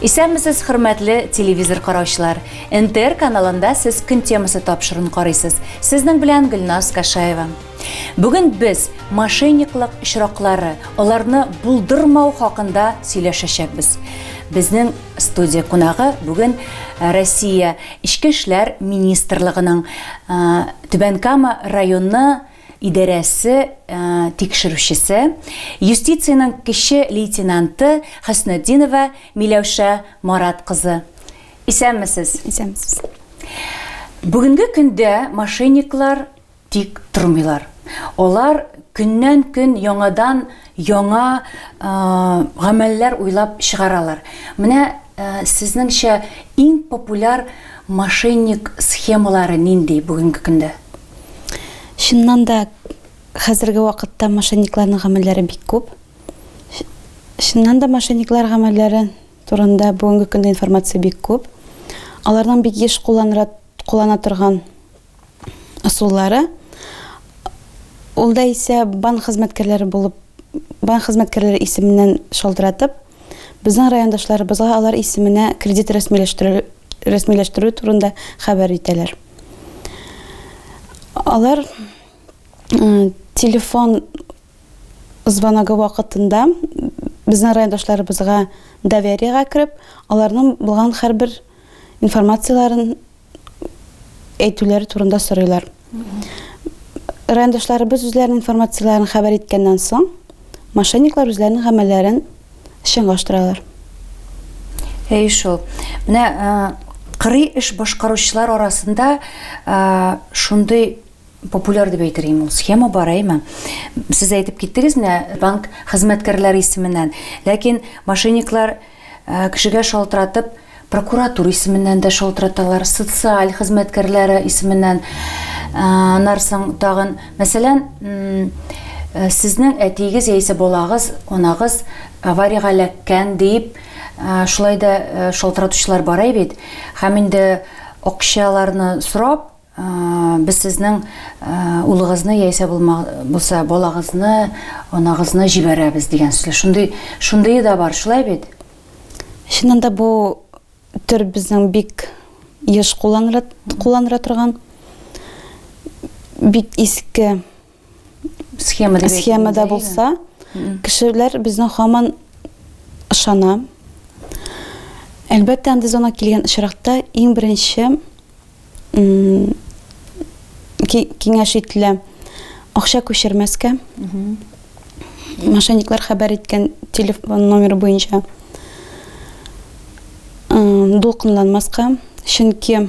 Исәнмесез, хөрмәтле телевизор караучылар! НТР каналында сез көн темасы тапшырын карыйсыз. Сезнең белән Гөлназ Кашаева. Бүген без мошенниклык очраклары, аларны булдырмау хакында сөйләшәчәкбез. Безнең студия кунагы бүген э, Россия Эчке эшләр министрлыгының э, Түбән Кама районы идарәсе тикшерүчесе, юстициянең кече лейтенанты Хөснетдинова Миләүшә Марат кызы. Исәнмесез! Исәнмесез! Бүгенге көндә мошенниклар тик тормыйлар. Алар көннән-көн яңадан яңа гамәлләр уйлап чыгаралар. Менә сезнеңчә иң популяр мошенник схемалары нинди бүгенге көндә? Чыннан да хәзерге вакытта мошенникларның гамәлләре бик күп. Чыннан да мошенниклар гамәлләре турында бүгенге көндә информация бик күп. Аларның бик еш кулланра, куллана торган ысуллары ул да исә банк хезмәткәрләре булып банк хезмәткәрләре исеменнән шалтыратып Безнең райондашларыбызга алар исеменә кредит рәсмиләштерү, рәсмиләштерү турында хәбәр итәләр. Алар телефон звоногы вакытында безнең райондашларыбызга довериега кереп, аларның булган һәрбер бер информацияләрен әйтүләре турында сорыйлар. Райондашларыбыз үзләренең информацияләрен хәбәр иткәннән соң, мошенниклар үзләренең гамәлләрен чынлаштыралар. Әй шул. Менә кырый эш башкаручылар арасында шундый популяр дип әйтергә мул схема бар әйме сез әйтеп киттегез менә банк хезмәткәрләре исеменнән ләкин мошенниклар э, кешегә шалтыратып прокуратура исеменнән дә шалтыраталар социаль хезмәткәрләре исеменнән э, нарсың тагын мәсәлән э, сезнең әтиегез яисә балагыз анагыз авариягә эләккән дип шулай да шалтыратучылар бар бит һәм инде акчаларны сорап Без сезнең улыгызны яисә булса балагызны, анагызны җибәрәбез дигән сүзләр. Шундый, шундые да бар, шулай бит? Чыннан да бу төр безнең бик еш кулланыла, кулланыла торган бик иске схемада схемада булса кешеләр безнең хаман ышана әлбәттә андый зона килгән очракта иң беренче киңәш ителә акча күчермәскә мошенниклар хәбәр иткән телефон номеры буенча дулкынланмаска чөнки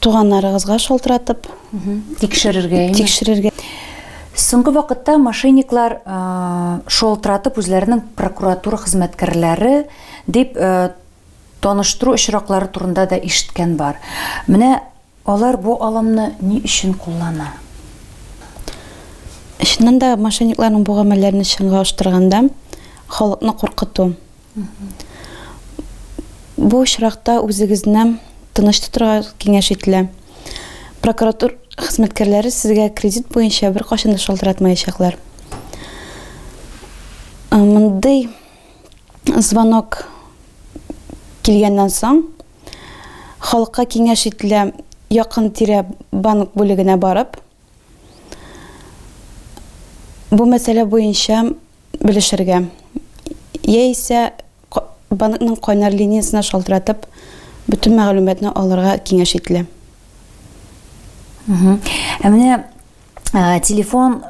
Туганнарыгызга шалтыратып тикшерергә, тикшерергә. Соңгы вакытта мошенниклар шалтыратып үзләренең прокуратура хезмәткәрләре дип таныштыру очраклары турында да ишеткән бар. Менә алар бу алымны ни өчен куллана? Чыннан да мошенникларның бу гамәлләрен чынга аштырганда халыкны куркыту. Бу очракта үзегезне тыныч тотырга киңәш ителә. Прокуратур хезмәткәрләре сезгә кредит буенча беркайчан да шалтыратмаячаклар. Э, мондый звонок килгәннән соң халыкка киңәш ителә якын тирә банк бүлегенә барып бу мәсьәлә буенча белешергә, яисә банкның кайнар линиясенә шалтыратып, бөтен мәгълүматны алырга киңәш ителә. Ә менә телефон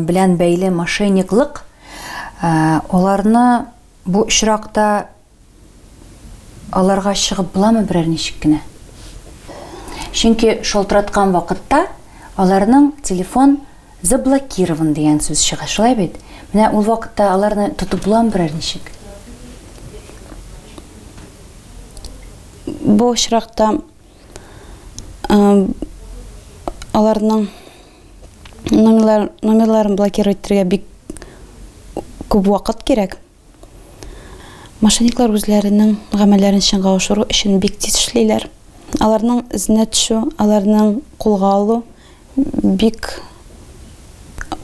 белән бәйле мошенниклык, аларны бу очракта Аларга чыгып буламы берәр ничек кенә? Чөнки шалтыраткан вакытта аларның телефон заблокирован дигән сүз чыга, шулай бит? Менә ул вакытта аларны тотып буламы берәр ничек? Бу очракта аларның номерларын блокировать итәргә бик күп вакыт кирәк. Мошенниклар үзләренең гамәлләрен чынга ашыру өчен бик тиз эшлиләр. Аларның эзенә төшү, аларның кулга алу бик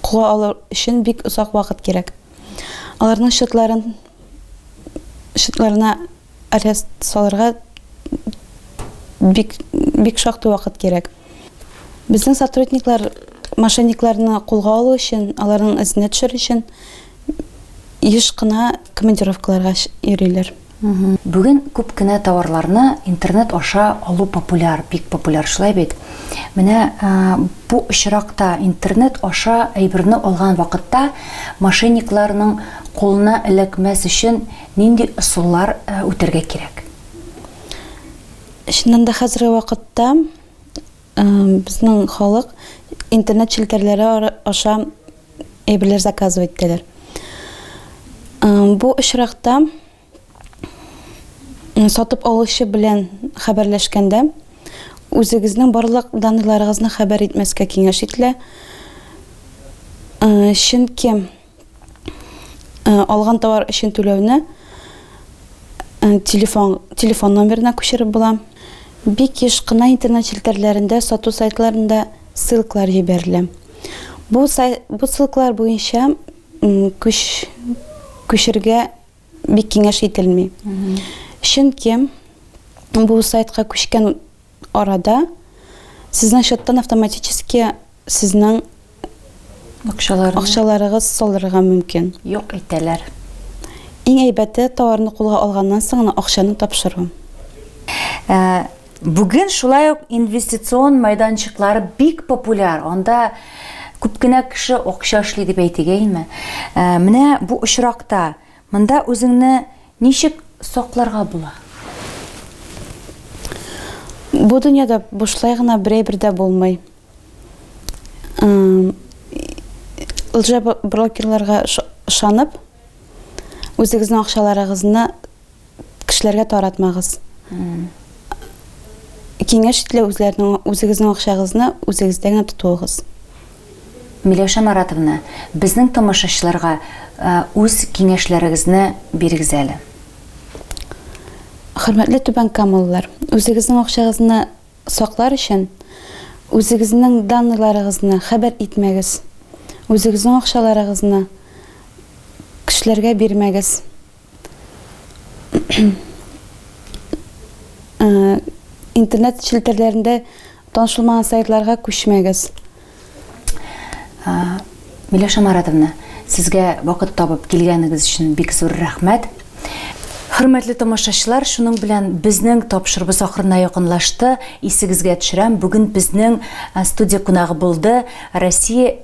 кулга алу өчен бик озак вакыт кирәк. Аларның счетларын счетларына Арест салырга бик, бик шактый вакыт кирәк. Безнең сотрудниклар мошенникларны кулга алу өчен, аларның эзенә төшер өчен еш кына командировкаларга йөриләр. Бүген күп кенә товарларны интернет аша алу популяр, бик популяр, шулай бит? Менә бу очракта, интернет аша әйберне алган вакытта, мошенникларның кулына эләкмәс өчен Нинди ысуллар үтәргә кирәк? Чыннан да хәзерге вакытта безнең халык интернет челтәрләре аша әйберләр заказывать итәләр. Бу очракта сатып алучы белән хәбәрләшкәндә үзегезнең барлык данныйларыгызны хәбәр итмәскә киңәш ителә. Чөнки э, алган товар өчен түләүне э, телефон, телефон номерына күчереп була. Бик еш кына интернет челтәрләрендә, сату сайтларында ссылкалар җибәрелә. Бу, сай, бу ссылкалар буенча күч, күчергә бик киңәш ителми. Чөнки бу сайтка күчкән арада сезнең счеттан автоматически сезнең Акчаларны. акчаларыгыз салырга мөмкин. Юк итәләр. Иң әйбәте товарны кулга алганнан соң гына акчаны тапшыру. Ә, Бүген шулай ук инвестицион майданчыклар бик популяр. Анда күп кенә кеше акча эшли дип әйтегәйме. Ә, Менә бу очракта Монда үзеңне ничек сакларга була? Бу дөньяда бушлай гына берәй бер дә булмый. Лжа брокерларга ышанып, үзегезнең акчаларыгызны кешеләргә таратмагыз. Киңәш ителә үзләренең үзегезнең акчагызны үзегездә генә тотуыгыз. Миләүшә Маратовна, безнең тамашачыларга үз киңәшләрегезне бирегез әле. Хөрмәтле Түбән Камалылар, үзегезнең акчагызны саклар өчен, үзегезнең данныйларыгызны хәбәр итмәгез, үзегезнең акчаларыгызны кешеләргә бирмәгез. Э, интернет челтәрләрендә танышылмаган сайтларга күчмәгез. Э, Миләшә Маратовна, сезгә вакыт табып килгәнегез өчен бик зур рәхмәт. Хөрмәтле тамашачылар, шуның белән безнең тапшырыбыз ахырына якынлашты. Исегезгә төшерәм, бүген безнең э, студия кунагы булды Россия